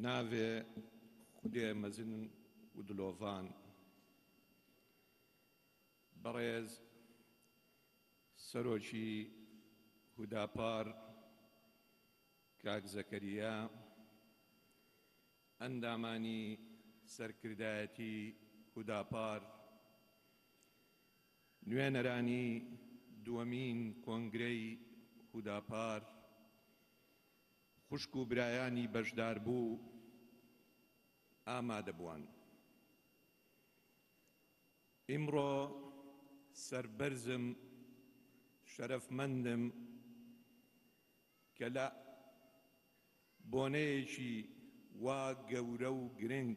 بناوێ خودێ مەزن و دلۆڤان بەڕێز سەرۆکی هوداپار کاک زەکەریا ئەندامانی سەرکردایەتی هوداپار نوێنەرانی دووەمین کۆنگرەی هوداپار خوشک و برایانی بەشداربوو ئامادەبووان ئیمڕۆ سەربەرزم شەرەفمەندم کە لە بۆنەیەکی وا گەورە و گرنگ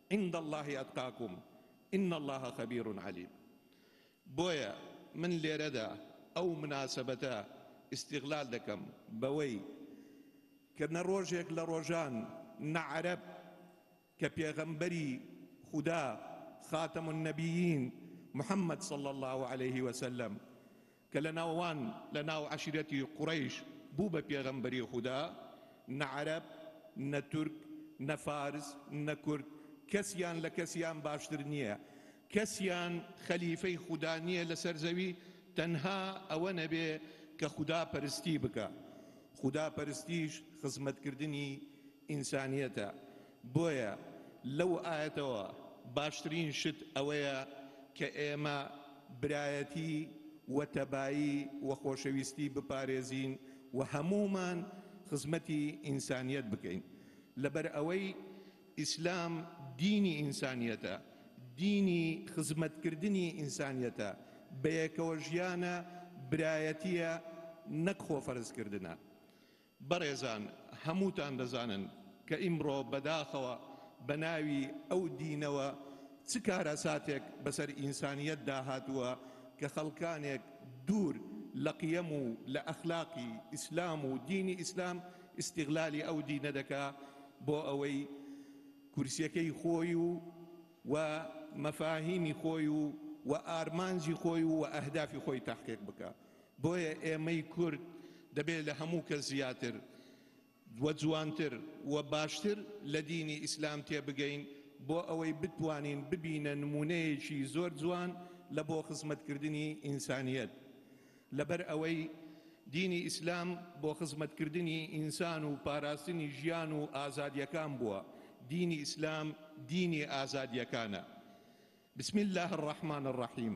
عند اللە اتقاکم ان اللە خبیر علیم بۆیە من لێرەدا ئەو مناسبەتە استغلال دەکەم بەوەی کە نە ڕۆژێک لە ڕۆژان نە عەرەب کە پێغەمبەری خودا خاتم النبیین محمد صلی الله علیه وسلم کە لە ناو وان لە ناو عەشیرەتی قوڕەیش بوو بە پێغەمبەری خودا، نە عەرەب، نە تورک، نە فارس، نە کورد، کەسیان لە کەسیان باشتر نییە، کەسیان خەلیفەی خودا نییە لە سەر زەوی، تەنها ئەوە نەبێ کە خودا پەرستی بکا. خودا پەرستیش خزمەتکردنی ئینسانیەتە. بۆیە لەو ئایەتەوە باشترین شت ئەوەیە کە ئێمە برایەتی و تەبایی و خۆشەویستی بپارێزین و هەموومان خزمەتی ئینسانیەت بکەین لەبەر ئەوەی ئیسلام دینی ئینسانیەتە دینی خزمەتکردنی ئینسانیەتە بەیەکەوە ژیانە برایەتیە نەک خۆفەرزکردنە بەڕێزان هەمووتان دەزانن کە ئیمڕۆ بەداخەوە بە ناوی ئەو دینەوە چ کارەساتێک بەسەر ئینسانیەتدا هاتووە کە خەڵکانێک دوور لە قیەم و لە ئەخلاقی ئیسلام و دینی ئیسلام ئیستیغلالی ئەو دینە دەکا بۆ ئەوەی کورسیەکەی خۆی و و مەفاهیمی خۆی و و ئارمانجی خۆی و و ئەهدافی خۆی تەحقیق بکا. بۆیە ئێمەی کورد دەبێت لە هەموو کەس زیاتر و جوانتر و باشتر لە دینی ئیسلام تێبگەین بۆ ئەوەی بتوانین ببینە نموونەیەکی زۆر جوان لە بۆ خزمەتکردنی ئینسانیەت لەبەر ئەوەی دینی ئیسلام بۆ خزمەتکردنی ئینسان و پاراستنی ژیان و ئازادیەکان بووە دینی ئیسلام دینی ئازادیەکانە بسم الله الرحمن الرحیم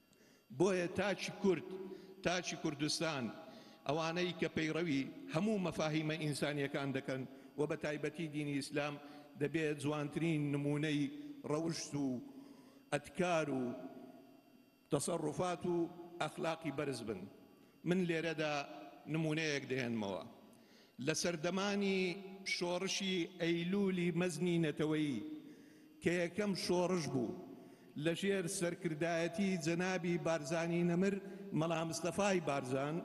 بۆیە تاکی کورد، تاکی کوردستان، ئەوانەی کە پەیڕەوی هەموو مەفاهیمە ئینسانییەکان دەکەن و بە تایبەتی دینی ئیسلام، دەبێ جوانترین نموونەی ڕەوشت و ئەدکار و تەسەڕوفات و ئەخلاقی بەرز بن. من لێرەدا نموونەیەک دەهێنمەوە، لە سەردەمانی شۆڕشی ئەیلوولی مەزنی نەتەوەیی کە یەکەم شۆڕش بوو لە ژێر سەرکردایەتی جەنابی بارزانی نەمر مەلا مستەفای بارزان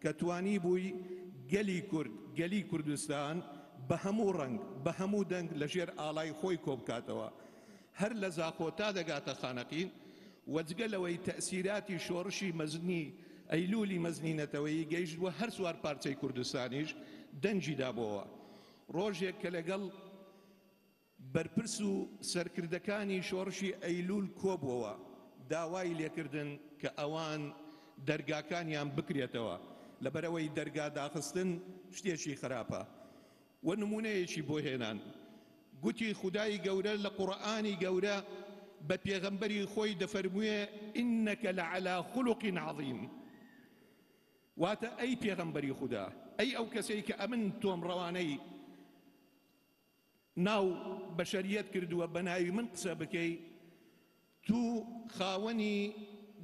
کە توانیبووی گەلی کورد، گەلی کوردستان بە هەموو ڕەنگ، بە هەموو دەنگ لە ژێر ئاڵای خۆی کۆبکاتەوە. هەر لە زاخۆ تا دەگاتە خانەقین و جگە لەوەی تەئسیراتی شۆڕشی مەزنی ئەیلوولی مەزنی نەتەوەیی گەیشت بۆ هەر چوار پارچەی کوردستانیش دەنگی دابۆوە. ڕۆژێک کە لەگەڵ بەرپرس و سەرکردەکانی شۆڕشی ئەیلوول کۆبووەوە داوای لێکردن کە ئەوان دەرگاکانیان بکرێتەوە لەبەرئەوەی دەرگا داخستن شتێکی خراپە وە نمونەیەکی بۆ هێنان گوتی خودای گەورە لە قوڕئانی گەورە بە پێغەمبەری خۆی دەفەرموێ ئینەکە لە عەلا خولوق عەظیم واتە ئەی پێغەمبەری خودا ئەی ئەو کەسەی کە ئەمن تۆم ڕەوانەی ناو بەشەریەت کردووە بە ناوی من قسە بکەی تو خاوەنی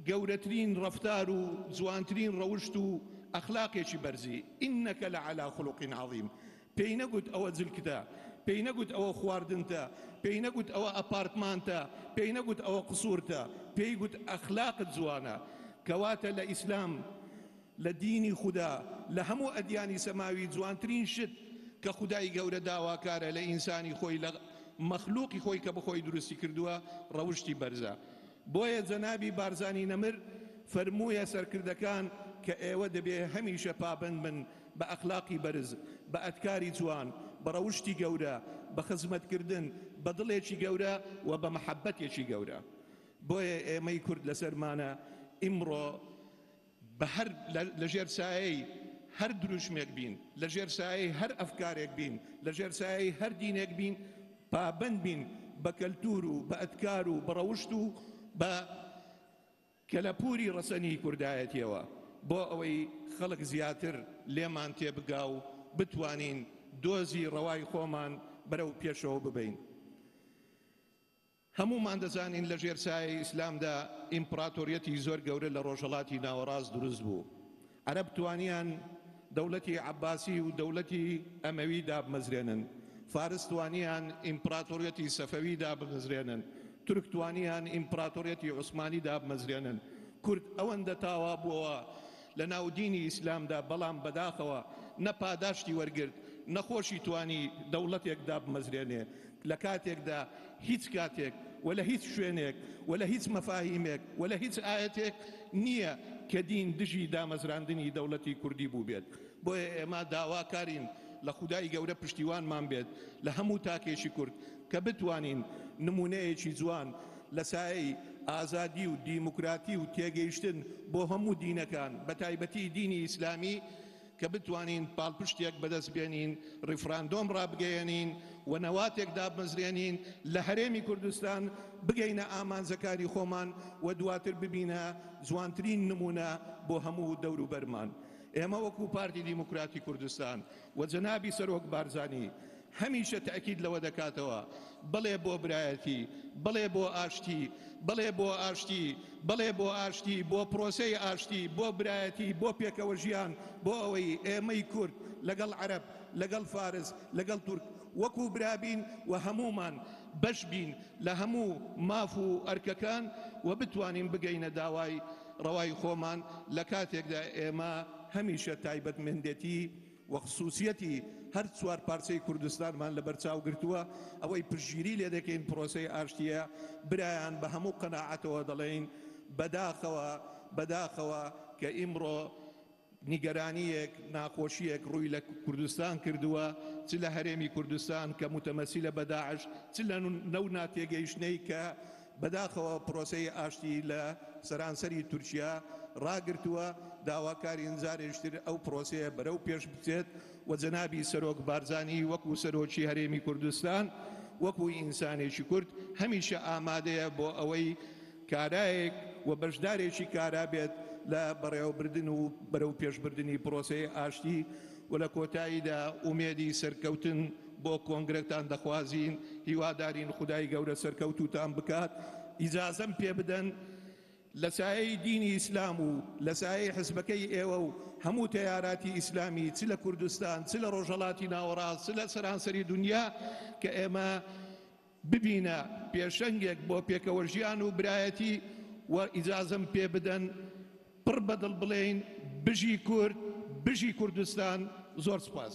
گەورەترین ڕەفتار و جوانترین ڕەوشت و ئەخلاقێکی بەرزی انک لعلی خلق عظیم پێی نەگوت ئەوە جلکتە پێی نەگوت ئەوە خواردنتە پێی نەگوت ئەوە ئەپارتمانتە پێی نەگوت ئەوە قسورتە پێی گوت ئەخلاقت جوانە کەواتە لە ئیسلام لە دینی خودا لە هەموو ئەدیانی سەماوی جوانترین شت کە خودای گەورە داواکارە لە ئینسانی خۆی لە مەخلوقی خۆی کە بەخۆی دروستی کردووە ڕەوشتی بەرزە بۆیە جەنابی بارزانی نەمر فەرموویە سەرکردەکان کە ئێوە دەبێ هەمیشە پابەند بن بە ئەخلاقی بەرز بە ئەتکاری جوان بە ڕەوشتی گەورە بە خزمەتکردن بە دڵێکی گەورە و بە مەحەبەتێکی گەورە بۆیە ئێمەی کورد لەسەرمانە ئیمڕۆ بە هەر لە ژێر سایەی هەر دروشمێک بین، لە ژێر سایەی هەر ئەفکارێک بین، لە ژێر سایەی هەر دینێک بین، پابەند بین بە کەلتوور و بە ئەدکار و بە ڕەوشت و بە کەلەپووری ڕەسەنی کوردایەتییەوە بۆ ئەوەی خەڵک زیاتر لێمان تێبگا و بتوانین دۆزی ڕەوای خۆمان بەرەو پێشەوە ببەین. هەموومان دەزانین لە ژێر سایەی ئیسلامدا ئیمپڕاتۆریەتی زۆر گەورە لە ڕۆژهەڵاتی ناوەڕاست دروست بوو. عەرەب توانیان دەولەتی عەباسی و دەولەتی ئەمەوی دابمەزرێنن. فارس توانیان ئیمپڕاتۆریەتی سەفەوی دابمەزرێنن. تورک توانیان ئیمپڕاتۆریەتی عوسمانی دابمەزرێنن. کورد ئەوەندە تاوا بووەوە، لە ناو دینی ئیسلامدا بەڵام بەداخەوە نە پاداشتی وەرگرت نەخۆشی توانی دەوڵەتێک دابمەزرێنێ لە کاتێکدا هیچ کاتێک وە لە هیچ شوێنێک وە لە هیچ مەفاهیمێک وە لە هیچ ئایەتێک نییە کە دین دژی دامەزراندنی دەوڵەتی کوردی بووبێت بۆیە ئێمە داوا کارین لە خودای گەورە پشتیوانمان بێت لە هەموو تاکێکی کورد کە بتوانین نمونەیەکی جوان لە سایەی ئازادی و دیموکراتی و تێگەیشتن بۆ هەموو دینەکان بە تایبەتی دینی ئیسلامی کە بتوانین پاڵپشتێک بەدەست بێنین ڕیفراندۆم ڕابگەیەنین و نەواتێک دابمەزرێنین لە هەرێمی کوردستان بگەینە ئامانجەکانی خۆمان و دواتر ببینە جوانترین نمونە بۆ هەموو دەوروبەرمان ئێمە وەکو پارتی دیموکراتی کوردستان و جەنابی سەرۆک بارزانی هەمیشە تەئکید لەوە دەکاتەوە، بەڵێ بۆ برایەتی، بەڵێ بۆ ئاشتی، بەڵێ بۆ ئاشتی، بەڵێ بۆ ئاشتی، بۆ پرۆسەی ئاشتی، بۆ برایەتی، بۆ پێکەوەژیان، بۆ ئەوەی ئێمەی کورد لەگەڵ عەرەب، لەگەڵ فارس، لەگەڵ تورک وەکو برا بین و هەموومان بەش بین لە هەموو ماف و ئەرکەکان و بتوانین بگەینە داوای ڕەوای خۆمان لە کاتێکدا ئێمە هەمیشە تایبەتمەندێتی و خسوسیەتی هەر چوار پارچەی کوردستانمان لەبەر چاو گرتووە، ئەوەی پشتگیری لێ دەکەین پرۆسەی ئاشتییە، برایان بە هەموو قەناعەتەوە دەڵێین بەداخەوە بەداخەوە کە ئیمڕۆ نیگەرانییەک ناخۆشییەک ڕووی لە کوردستان کردووە چ لە هەرێمی کوردستان کە موتەمەسیلە بە داعش چ لە نەو ناتێگەیشتنەی کە بەداخەوە پرۆسەی ئاشتی لە سەرانسەری تورکیا ڕاگرتووە، داواکارین جارێکتر ئەو پرۆسەیە بەرەو پێش بچێت و جەنابی سەرۆک بارزانی وەکو سەرۆکی هەرێمی کوردستان وەکو ئینسانێکی کورد هەمیشە ئامادەیە بۆ ئەوەی کارایەک و بەشدارێکی کارا بێت لە بەڕێوەبردن و بەرەو پێشبردنی پرۆسەی ئاشتی و لە کۆتاییدا ئومێدی سەرکەوتن بۆ کۆنگرەتان دەخوازین، هیوادارین خودای گەورە سەرکەوتووتان بکات، ئیجازەم پێ بدەن لە سایەی دینی ئیسلام و لە سایەی حزبەکەی ئێوە و هەموو تەیاراتی ئیسلامی چ لە کوردستان چ لە ڕۆژهەڵاتی ناوەڕاست چ لە سەرانسەری دونیا کە ئێمە ببینە پێشەنگێک بۆ پێکەوەژیان و برایەتی و ئیجازەم پێ بدەن پڕ بە دڵ بڵێین بژی کورد، بژی کوردستان، زۆر سپاس.